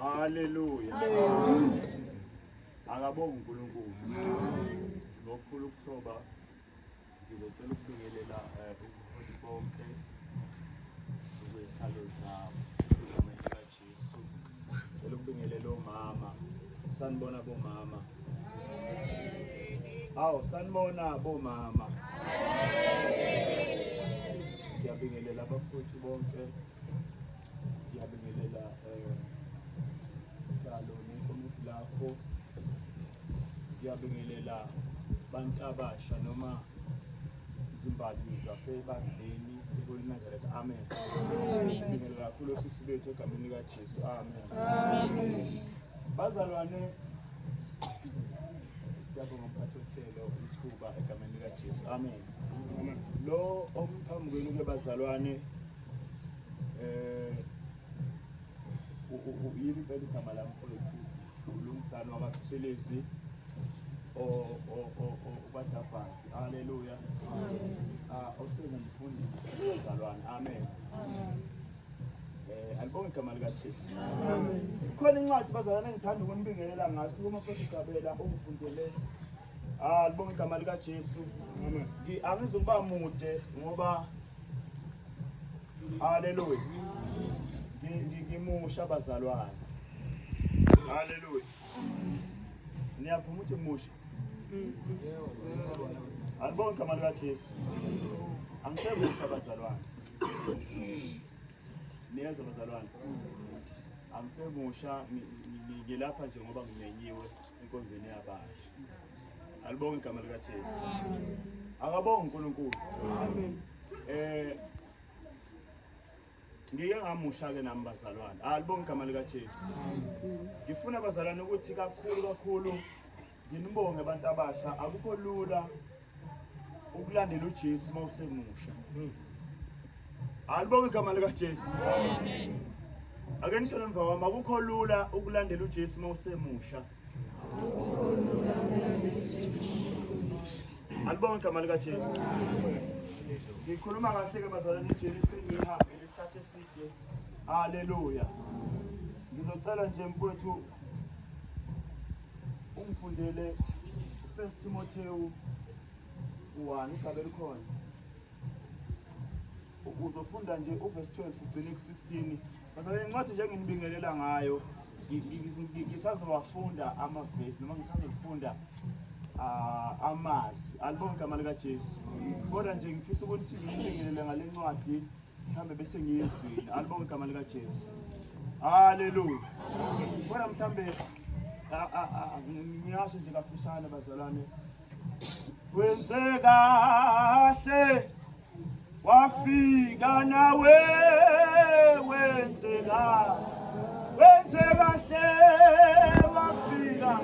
Haleluya. Akabonga uNkulunkulu. Ngokukhulu ukuthoba Ngizocela ukubingelela eh, ubuholi bonke okwezihlalo zabo egameni likaJesu. Ngicela ukubingelela omama. Sanibona bomama. Hawu sanibona bomama. Ngiyabingelela abafowethu bonke Siyabingelela eh sihlalo nekomiti lakho. Siyabingelela abantu abasha noma izimbali zasebandleni kulinazareth amen sibingelela kakhulu osisi bethu egameni likajesu amen bazalwane siyabonga mphathi ohlelo ithuba egameni likajesu amen lo omphambi kwenu ke bazalwane Eh yini impela igama lami mfowethu uLungisani wakaButhelezi obadabhazi haleluya ah, osengumfundisi ozalwane amen eh alibonge igama likaJesu khona incwadi bazalwane engithanda ukunibingelela ngaso kuma futhi gabela ongifundele ah libonge igama likaJesu amen angizukuba mude ngoba Haleluya. Ngimusha bazalwane. Haleluya. Niyavuma ukuthi musha. Alibonke igama likaJesu. Angisemusha bazalwane. Niyezwa bazalwane. Angisemusha ngilapha nje ngoba ngimenyiwe. enkonzweni yabasha alibonge igama likaJesu akabonge uNkulunkulu amen eh ngike ngamusha-ke nami bazalwane alibonge igama likajesu ngifuna bazalwane ukuthi kakhulu kakhulu nginibonge abantu abasha akukho lula ukulandela uJesu uma usemusha hmm. alibonge igama likaJesu amen ake nisho emva kwami akukho lula ukulandela uJesu uma usemusha alibonge igama likaJesu ngikhuluma kahle ke bazalwane ijeli sengihambe isikhathi eside haleluya ngizocela nje mfowethu ungifundele first timotewu 1 ugabe likhona uzofunda nje uvesi 12 ugcine ku-16 basale incwadi nje enginibingelela ngayo ngisazowafunda amavesi noma ngisazofunda ah, amazwi alibonke amali kajesu kodwa nje ngifisa ukuthi nginibingelele ngale ncwadi mhlawumbe bese ngiyizwile alibonge igama likajesu haleluya kodwa mhlawumbe ngiyasho nje kafushane bazalwane wenze kahle wafika nawe wenze kahle wenze kahle wafika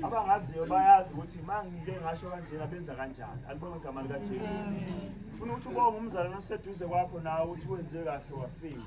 abangaziyo bayazi ukuthi uma ngike ngasho kanjena benza kanjani alibonge igama likajesu funa ukuthi ubonge umzalwane oseduze kwakho nawe ukuthi wenziwe kahle wafika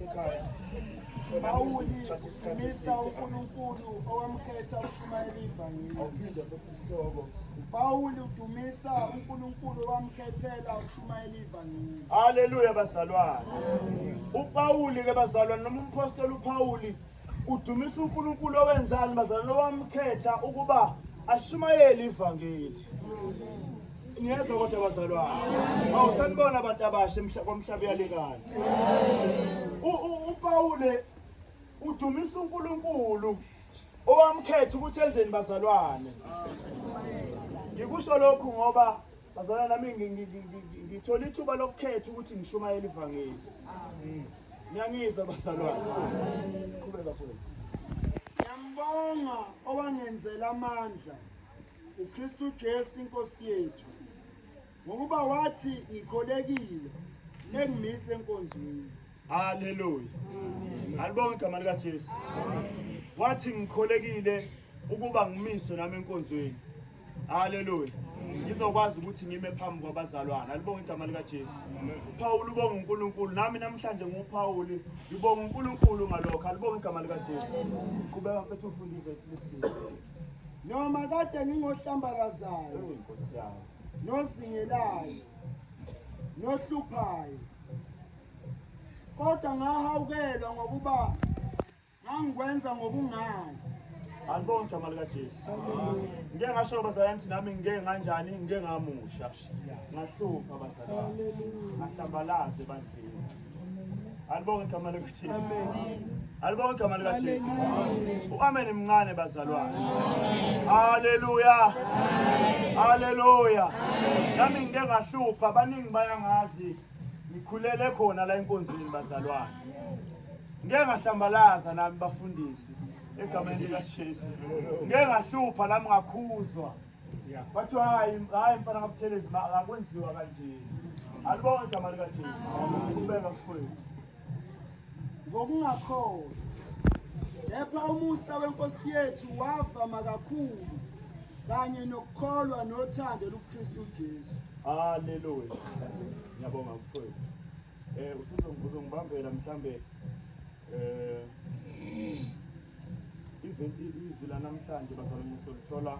Pawuli umisa uNkulunkulu owamkhetha ukushumayela ivangeli. Pawuli udumisa uNkulunkulu owamkhethela ukushumayela ivangeli. Haleluya bazalwane. UPawuli ke bazalwane noma umpostoli uPawuli Udumisa uNkulunkulu owenzani bazalwane owamkhetha ukuba ashumayele ivangeli. Niyezwa kodwa bazalwane. Awu sanibona abantu abasha komhlaba uyalekana. UPawule udumisa uNkulunkulu owamkhetha ukuthi enzeni bazalwane. Ngikusho lokhu ngoba Bazalwane nami ngi- ngi- ngi- ngi- ngi- ngithola ithuba lokukhetha ukuthi ngishumayele ivangeli. Ngiyangizwa bazalwane. Qhubeka futhi. Ngiyambonga owangenzela amandla uKristu Jesu inkosi yethu ngokuba wathi ngikholekile nengimise enkonzweni. Haleluya. Alibonge igama lika Jesu. Wathi ngikholekile ukuba ngimiswe nami enkonzweni. Haleluya. Ngizokwazi ukuthi ngime phambi kwabazalwana. Alibonge igama lika Jesu. Paul ubonga uNkulunkulu. Nami namhlanje nguPaul. Ngibonga uNkulunkulu ngalokho. Alibonge igama lika Jesu. Qhubeka mfethu ufunde ivesi lesibili. Noma kade ngingohlambalazayo. Nkosi yami. Nozingelayo. Nohluphayo. kodwa ngahawukelwa ngokuba ngangikwenza ngokungazi andibonge igama likajesu ngike ngasho bazalwane ukuthi nami ngike nganjani ngike ngamusha ngahlupha bazalwane ngahlambalaze bandleni alibonge igama likajesu alibonge igama likajesu u-amen mncane bazalwane haleluya haleluya nami ngike ngahlupha baningi bayangazi ngikhulele khona la enkonzweni bazalwane ngeke ngahlambalaza nami bafundisi egameni likaJesu ngeke ngahlupha nami ngakhuzwa kwathiwa hayi hayi mfana ngabuthelezi akwenziwa kanje alibonke igama likaJesu ubeka mfowethu ngokungakholi. Kepha umusa weNkosi yethu wavama kakhulu kanye nokukholwa nothando luKristu Jesu. Haleluya. Ngiyabonga mfowethu. Eh usizongibambela mhlambe eh izwi lanamhlanje bazalwane solithola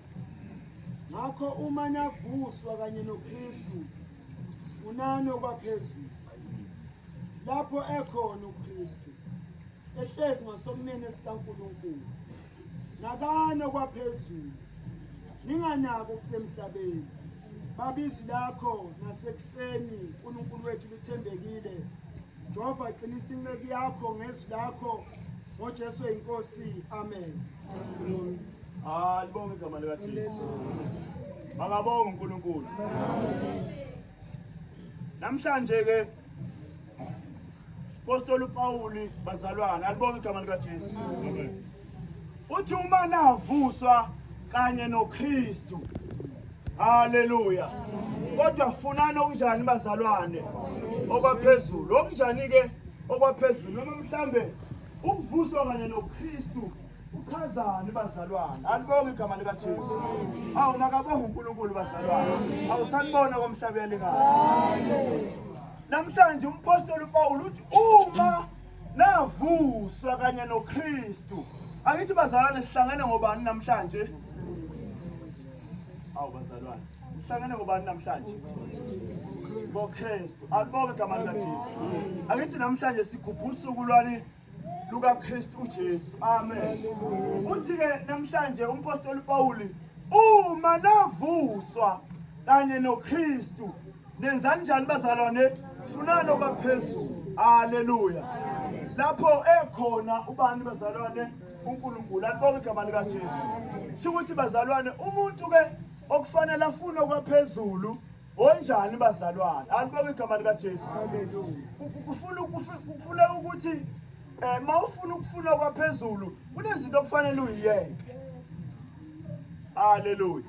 ngakho uma navuswa kanye noKristu unani okwaphezulu lapho ekhona uKristu ehlezi ngasokunene sikaNkulunkulu nakani okwaphezulu ninganako kusemhlabeni babizwi lakho nasekuseni uNkulunkulu wethu lithembekile Jehova qinisa inceku yakho ngezwi lakho ngoJesu eyiNkosi amen ah libonge igama likaJesu makabonga uNkulunkulu namhlanje ke Apostoli uPawuli bazalwana alibonge igama likaJesu amen uthi uma navuswa kanye noKristu haleluya kodwa funani okunjani bazalwane okwaphezulu okunjani-ke okwaphezulu noma mhlambe ukuvuswa kanye noKristu uchazani bazalwane alibonge igama likaJesu awu makabonge uNkulunkulu bazalwane awusanibona komhlaba yalingana namhlanje umpostoli uPawulu uthi uma navuswa kanye noKristu angithi bazalwane sihlangene ngobani namhlanje awu bazalwane sihlangene ngobani namhlanje boKristu alibonke igama likaJesu angithi namhlanje sigubha usuku lwani lukaKristu uJesu amen uthi ke namhlanje umpostoli Pawuli uma navuswa kanye noKristu Nenzani njani bazalwane? Funani okwaphezulu. Haleluya. Lapho ekhona ubani bazalwane? uNkulunkulu alibonge igama lika Jesu shukuthi bazalwane umuntu ke okufanele afune kwaphezulu onjani bazalwane alibonge igama lika Jesu kufuna kufuna ukuthi eh mawufuna ukufuna kwaphezulu kunezinto okufanele uyiyeke Haleluya.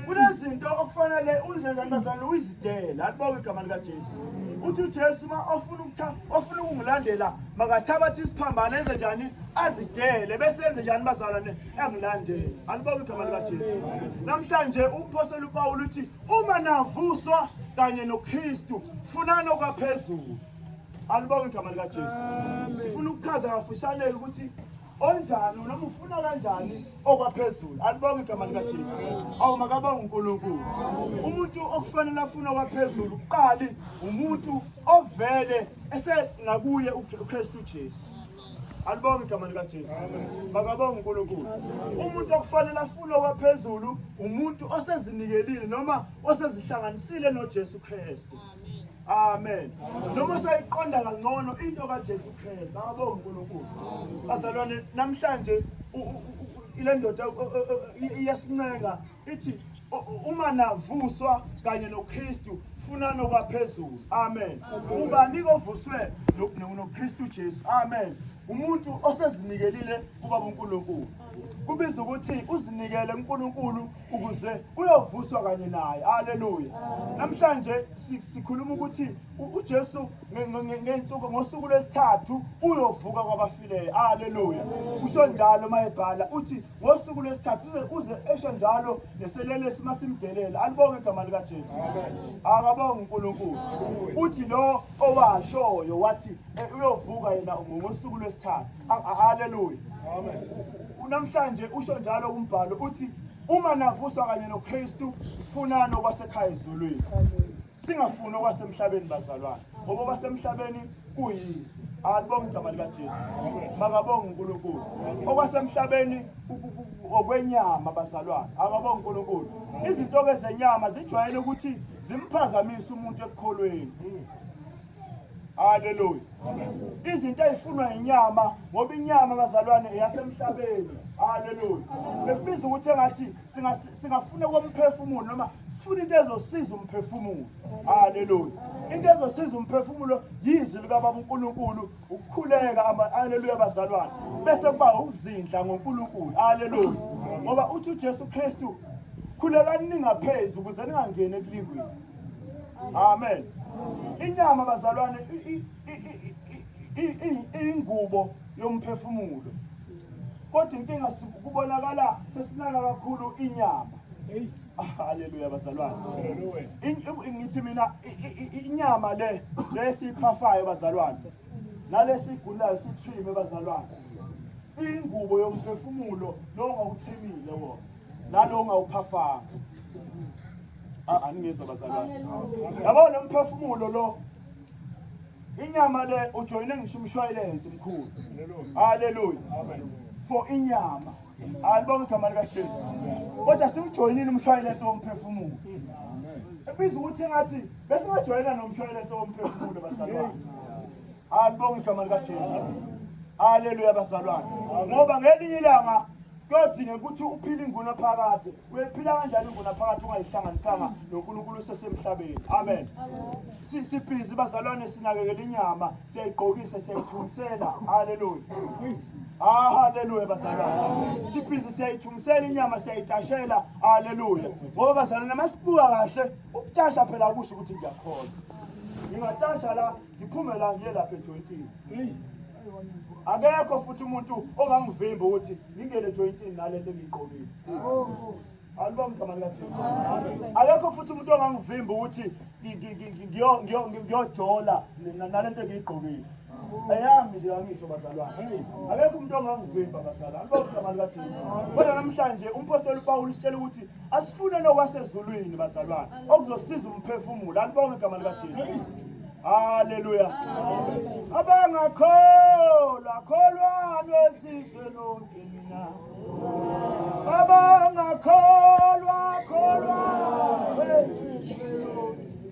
Kunezinto okufanele unjengentombazane uyizidele. Alibonge igama lika Jesu. Uthi uJesu uma ofuna ukutha ofuna ukungilandela makathabathe isiphambano enze njani azidele bese enze njani bazalwane engilandele. Alibonge igama lika Jesu. Namhlanje umphostoli uPawulu uthi uma navuswa kanye noKristu funani okwaphezulu. Alibonge igama lika Jesu. Ngifuna ukuchaza kafushane ukuthi onjani noma ufuna kanjani okwaphezulu alibonge igama likajesu awu makabonga unkulunkulu umuntu okufanele afune okwaphezulu kuqali umuntu ovele esengakuye ukristu jesu alibonge igama likajesu makabonga unkulunkulu umuntu okufanele afune okwaphezulu umuntu osezinikelile noma osezihlanganisile nojesu kristu Amen. Noma sayiqonda kangcono into kaJesu Kristu. Ngabo uNkulunkulu. Bazalwane namhlanje ile ndoda iyasincenga ithi uma navuswa kanye noKristu funani okwaphezulu amen ubani kovuswe noKristu Jesu amen umuntu osezinikelile kuba uNkulunkulu kubiza ukuthi uzinikele uNkulunkulu ukuze uyovuswa kanye naye haleluya namhlanje sikhuluma ukuthi uJesu ngensuku ngosuku lwesithathu uyovuka kwabafileyo haleluya usho njalo mayebhala uthi ngosuku lwesithathu uze uze esho njalo neselelesi masimdelela alibonge igama lika Jesu akabonge uNkulunkulu uthi lo owashoyo wathi eh, uyovuka yena ngosuku lwesithathu Haleluya. Amen. Unamhlanje usho njalo umbhalo uthi uma navuswa kanye noKristu funani okwasekhaya ezulwini. Singafuni okwasemhlabeni bazalwane. Ngoba okwasemhlabeni kuyize. Alibonge igama likaJesu. Makabonge uNkulunkulu. Okwasemhlabeni okwenyama bazalwane. Akabonge uNkulunkulu. Izinto ke zenyama zijwayele ukuthi zimphazamise umuntu ekukholweni. haleluya izinto ezifunwa inyama ngoba inyama bazalwane eyasemhlabeni haleluya bekubiza ukuthi engathi singafuna komphefumulo noma sifuna into ezosiza umphefumulo haleluya into ezosiza umphefumulo yizwi likababa uNkulunkulu ukukhuleka haleluya bazalwane bese kuba ukuzindla ngoNkulunkulu haleluya ngoba uthi uJesu Kristu khulekani ningaphezu ukuze ningangeni ekulingweni amen inyama bazalwane iyingubo yomphefumulo kodwa inkinga kubonakala sesinaka kakhulu inyama haleluya bazalwane ngithi mina inyama le lesiyiphafayo bazalwane nalesigulayo sithime bazalwane ingubo yomphefumulo lo ngawuthimile wona nalo ngawuphafanga Ah, aningizwa bazalwane yabo lo mphefumulo lo inyama le ujoyine ngisho umshwayilensi mkhulu haleluya for inyama alibonga igama likajesu kodwa siwujoyinile umshwayilensi womphefumulo ebiza ukuthi engathi besingajoyina nomshwayilensi womphefumulo bazalwane alibonga igama likajesu haleluya bazalwane ngoba ngelinye ilanga kuyodingeka ukuthi uphile ingunaphakade uyoyiphila kanjani ingunaphakade ungayihlanganisanga nonkulunkulu usesemhlabeni amen sibhizi bazalwane sinakekela inyama siyayigqokisa siyayithungisela haleluya Ah haleluya bazalwane. Sibhizi siyayithungisela inyama siyayitashela haleluya. Ngoba bazalwane masibuka kahle ukutasha phela kusho ukuthi ngiyakhona. Ngingatasha la ngiphume la ngiye lapha ejointini. Akekho futhi umuntu ongangivimba ukuthi ngingene jointini nale nto engiyigqokile alibonga igama likajesu akekho futhi umuntu ongangivimba ukuthi ngiyojola nale nto engiyigqokile ayami nje angisho bazalwane akekho umuntu ongangivimba bazalwane alibonga igama likajesu kodwa namhlanje umpostoli upawulu usitshela ukuthi asifune nokwasezulwini bazalwane okuzosiza umphefumulo alibonge igama likaJesu haleluya abangakholwa kholwani wesizwe lonke mina abangakholwa kholwani wesizwe lonke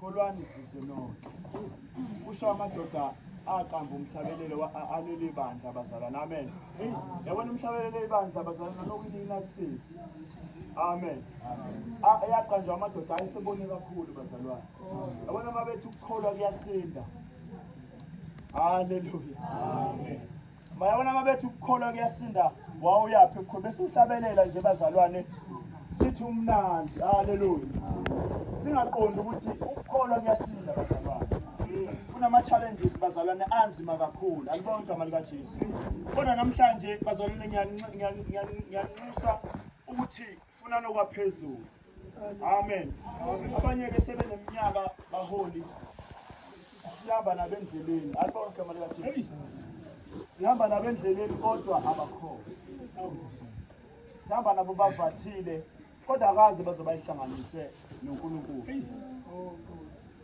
kholwani sizwe nonke kusho amadoda aqamba umhlabelelo aleli bandla abazalwana amen yabona umhlabelelo ibandla abazalwana nokunina kusisi amen yaqanjwa amadoda ayesebone kakhulu bazalwane yabona uma bethi ukukholwa kuyasinda haleluya amen Bayabona mabethu ukukholwa kuyasinda wawuyaphi mkhulu bese uhlabelela nje bazalwane sithi umnandi haleluya singaqondi ukuthi ukukholwa kuyasinda bazalwane kunama-challenges bazalwane anzima kakhulu alibonga igama likajesu kodwa namhlanje bazalwane ngiyanxusa ukuthi funa nokwaphezulu amen abanye-ke sebeneminyaka baholi sihamba nabendleleni alibona igama likajesu sihamba nabendleleni kodwa abakhona sihamba nabo bavathile kodwa akaze baze bayihlanganise nonkulunkulu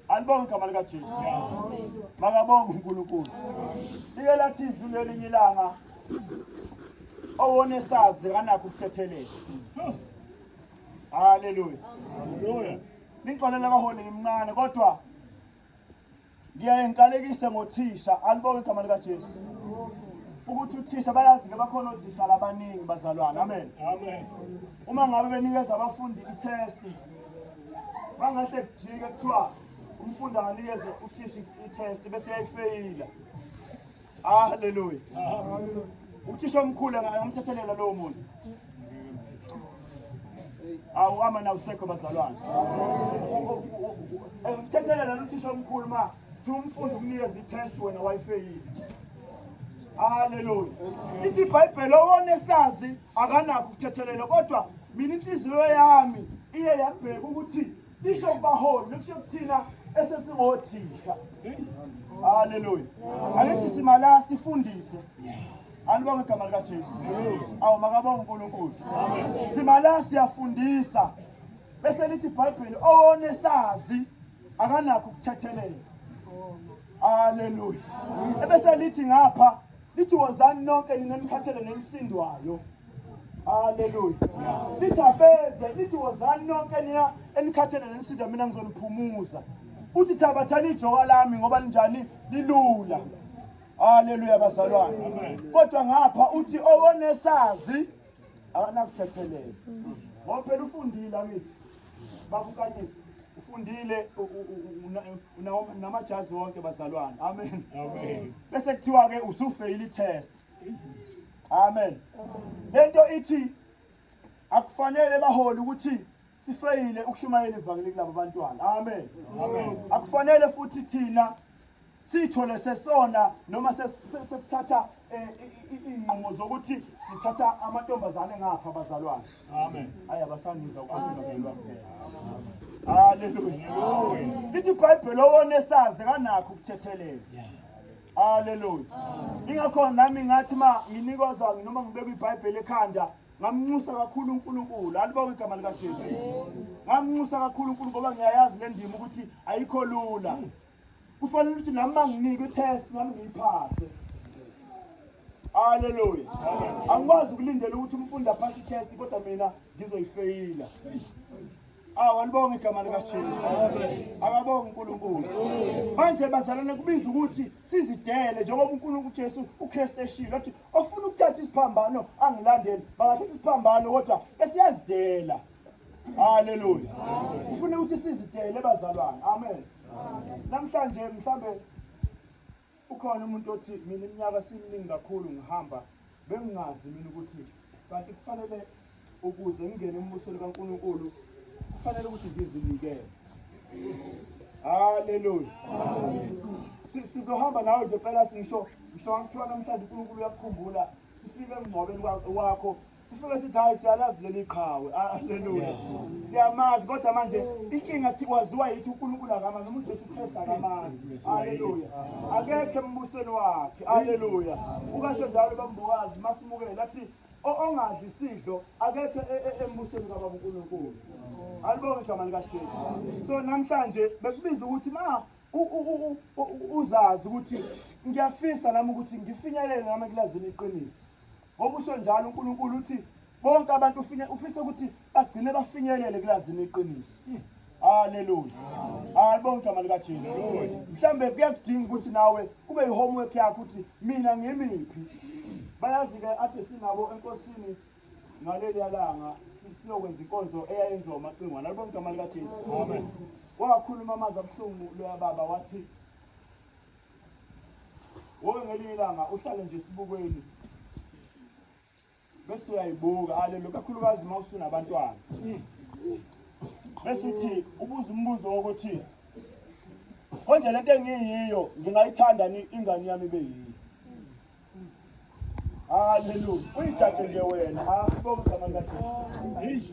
Alibonge igama lika Jesu. Makabonge uNkulunkulu. Ike lathi izwi lelinye ilanga owone sazi kanakho ukuthethelela. Haleluya. Haleluya. Ningixolela abaholi ngimncane kodwa ngiyaye ngikalekise ngothisha alibonge igama lika Jesu. ukuthi uthisha bayazi ke bakhona othisha labaningi bazalwane amen amen uma ngabe benikeza abafundi i-test Mangahle kujike kuthiwa umfundi akanikeze uthisha i-test bese yayifeyila. Hallelujah. Uthisha omkhulu angamthethelela lowo muntu. Awuhamba na usekho bazalwane. Umthethelela uthisha omkhulu ma Thi umfundi ukunikeza i-test wena wayifeyile. Haleluya. Ithi iBhayibheli owonesazi akanakho ukuthethelela kodwa mina inhliziyo yami iye yabheka ukuthi lisho kubaholi likusho kuthina esesingothisha. Haleluya. Angithi simala sifundise. Alibonge igama lika Jesu. Awu makabonge uNkulunkulu. Simala siyafundisa. Bese lithi iBhayibheli owonesazi akanakho ukuthethelela haleluya ebese lithi ngapha lithi wozani nonke nina nikhathele nenisindwayo haleluya lithi abeze lithi wozani nonke nina enikhathele nenisindwa mina ngizoniphumuza uthi thabathani ijoka lami ngoba linjani lilula haleluya bazalwane kodwa ngapha uthi owonesazi akanakuthethelela ngoba phela ufundile akithi bakukanyise ufundile namajazi wonke bazalwane amen amen bese kuthiwa ke usufeyile itest amen lento ithi akufanele bahole ukuthi sifeyile ukushumayela ivangeli kulabo bantwana amen amen akufanele futhi thina siyithole sesona noma sesithatha eh, iy'nqumo zokuthi sithatha amantombazane ngapha abazalwane amen hhayi abasangiza ukwelwa haleluya lithi ibhayibheli owona esazi kanakho ukuthethelela haleluya ingakho nami ngathi ma nginikozwa noma ngibeka ibhayibheli ekhanda ngamnxusa kakhulu uNkulunkulu alibawe igama likaJesu ngamnxusa kakhulu uNkulunkulu ngoba ngiyayazi le ndima ukuthi ayikho lula kufanele ukuthi nami banginike i-test nami ngiyiphase haleluya angikwazi ukulindela ukuthi umfundi aphase i-test kodwa mina ngizoyifeyila awu alibonge igama likajesu akabonge unkulunkulu manje bazalane kubiza ukuthi sizidele njengoba unkulunkulu ujesu ukristu eshilo athi ofuna ukuthatha isiphambano angilandele bangathatha isiphambano kodwa esiyazidela Haleluya. Ufuna ukuthi sizidele bazalwane. Amen. Namhlanje mhlambe ukhona umuntu othi mina iminyaka siminingi kakhulu ngihamba bengingazi mina ukuthi kanti kufanele ukuze ngingene embusweni kaNkulunkulu kufanele ukuthi ngizinikele. Haleluya. Sizohamba nawe nje phela sisho ngisho ngithiwa namhlanje uNkulunkulu uyakukhumbula sifike emngcwabeni wakho sifike sithi hayi siyalazi leli qhawe aleluya ah, siyamazi kodwa manje inkinga thi kwaziwa yithi uNkulunkulu akamazi noma uJesu Kristu akamazi aleluya akekho embusweni wakhe aleluya ukasho njalo bambokazi masimukele athi ongadli isidlo akekho e, e, embusweni kababa uNkulunkulu alibonge igama likaJesu so namhlanje bekubiza ukuthi ma uzazi ukuthi ngiyafisa nami ukuthi ngifinyelele nami kulazini iqiniso Ngoba usho njalo uNkulunkulu uthi bonke abantu ufine ufisa ukuthi bagcine bafinyelele kulazini iqiniso. Hmm. Haleluya. Alibonga igama lika Jesu. Mhlambe kuyakudinga ukuthi nawe kube yihomework yakho ukuthi mina ngimiphi. Bayazi ke ade sinabo enkosini ngaleli yalanga siyokwenza inkonzo eyayenziwa umacingwana. Alibonga igama lika Jesu. Amen. Wakhuluma amazwi abuhlungu loya baba wathi Woke ngelinye ilanga uhlale nje esibukweni bese uyayibuka alelo kakhulukazi uma usunabantwana bese uthi ubuza umbuzo wokuthi konje lento engiyiyo ngingayithanda ni ingane yami beyiyo haleluya uyijaje nje wena akubonga igama likaJesu